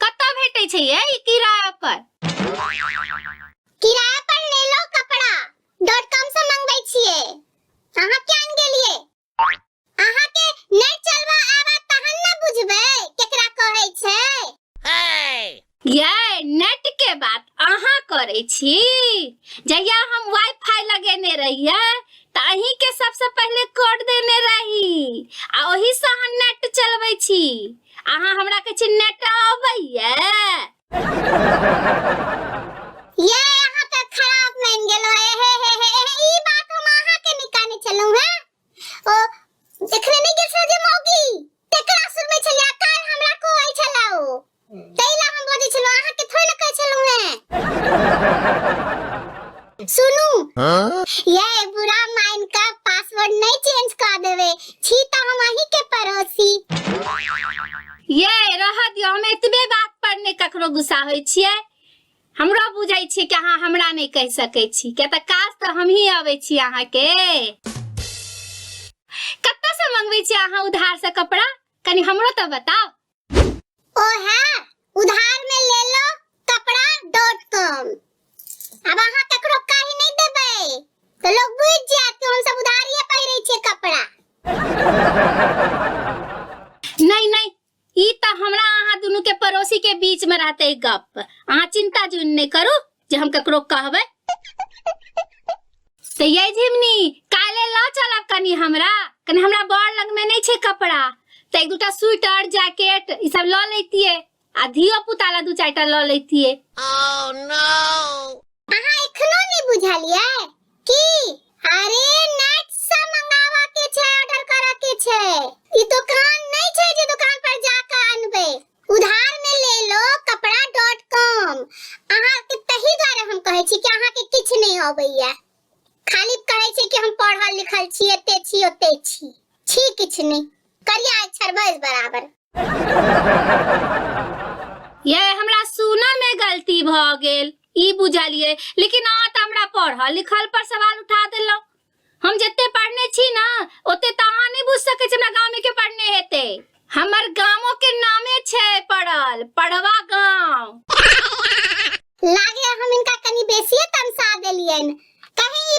कतऽ भेटै छै ये ई किराया पर किराया पर ले लो कपड़ा डॉट कॉम से मंगबै छिए अहाँ के आन गेलिए अहाँ के नै चलबा आबा तहन न बुझबै केकरा कहै छै ये नेट के बात अहाँ करै छी जहिया हम वाईफाई लगेने रहिए त अहीं के सबसे पहले कोड देने रही आ ओही से अहाँ नेट चलबै छी अहाँ हमरा कहै छी नेटा अबैया ये अहाँ के खराब मान गेलो हे हे हे हे हे, ई बात हम अहाँ के निकाने चलू है ओ जखने नहीं गेल जे मौगी तेकरा सुर में छलिया काल हमरा को आई छला ओ तैला हम बजे छलो अहाँ के थोड़ी न कहै छलू है सुनू ये बुरा माइन का पासवर्ड नहीं चेंज कर देवे छी तो हम अही के पड़ोसी ये रह दियो हम एतबे बात पर ने ककरो गुस्सा होय छियै हमरा बुझाय छै कि अहाँ हमरा नहि कहि सकै छी किया तऽ काज तऽ हमही अबै छी अहाँ के कतऽ से मंगबै छी अहाँ उधार से कपड़ा कनी हमरो तऽ बताओ ओहे उधार में ले लो कपड़ा डॉट कॉम अब अहाँ ककरो कहि नहीं देबै तो लोग बुझ जायत कि हम सब उधारिये पहिरे छियै कपड़ा नहीं नहीं ई तो हमरा अहाँ दुनू के पड़ोसी के बीच में रहते गप अहाँ चिंता जुन नहीं करू जे हम ककरो कहबै तऽ ये झिमनी काल्हि लऽ चलब कनि हमरा कनि हमरा बड़ लगमे नहि छै कपड़ा तऽ एक दूटा स्वेटर जैकेट ई सब लऽ लैतियै आ धियो पुता लए दू चारिटा लऽ लैतियै अहाँ एखनो नहि बुझलियै की अरे नेट से मंगावा के छै ऑर्डर करे के छै ई दुकान नहीं छै जे दुकान पर जाके अनबे उधार में ले लो कपड़ा डॉट कॉम अहाँ के तही द्वारे हम कहै छी कि अहाँ के किछ नहीं अबैया खाली कहै छी कि हम पढ़ल लिखल छी एते छी ओते छी छी किछ नहीं करिया अक्षर बस बराबर ये हमरा सुनऽ में गलती भ गेल ई बुझलिए लेकिन अहाँ तऽ हमरा पढ़ल लिखल पर सवाल उठा देलहुँ हम जते पढ़ने छी ना ओते तऽ अहाँ नहि बुझ सकै छी हमरा गाँव के पढ़ने हेते हमर गाँवो के नामे छै पढ़ल पढ़वा गाँव लागे हम इनका कनी बेसिए तमसा देलियन कहीं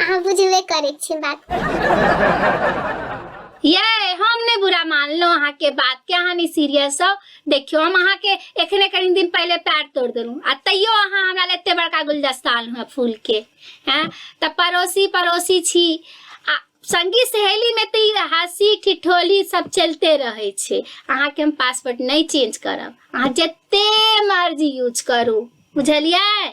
अहाँ बुझबे करै छी बात ये हम ने बुरा मान लो अहाँ के बात के अहाँ नहीं सीरियस हो देखियो हम अहाँ के एखने कनी दिन पहले पैर तोड़ देलू आ तैयो अहाँ हमरा ले एते बड़का गुलदस्ता आनलू है फूल के हैं त पड़ोसी पड़ोसी छी आ संगी सहेली में तो ई हंसी ठिठोली सब चलते रहे छे अहाँ के हम पासवर्ड नहीं चेंज करब अहाँ जते मर्जी यूज करू बुझलियै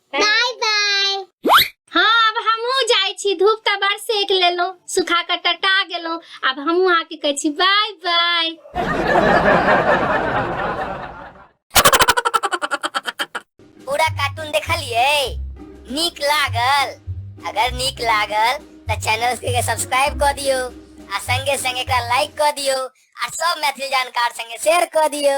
बाय बाय हाँ अब हमहूँ जाइ छी धूप तऽ बड़ सेक लेलहुँ सुखा कऽ टटा गेलहुँ आब हमहूँ अहाँके कहै छी बाय बाय पूरा कार्टून देखलिए नीक लागल अगर नीक लागल तऽ चैनल के सब्सक्राइब कऽ दियो आ संगे संगे एकरा लाइक कऽ दियो आ सब मैथिली जानकार संगे शेयर कऽ दियो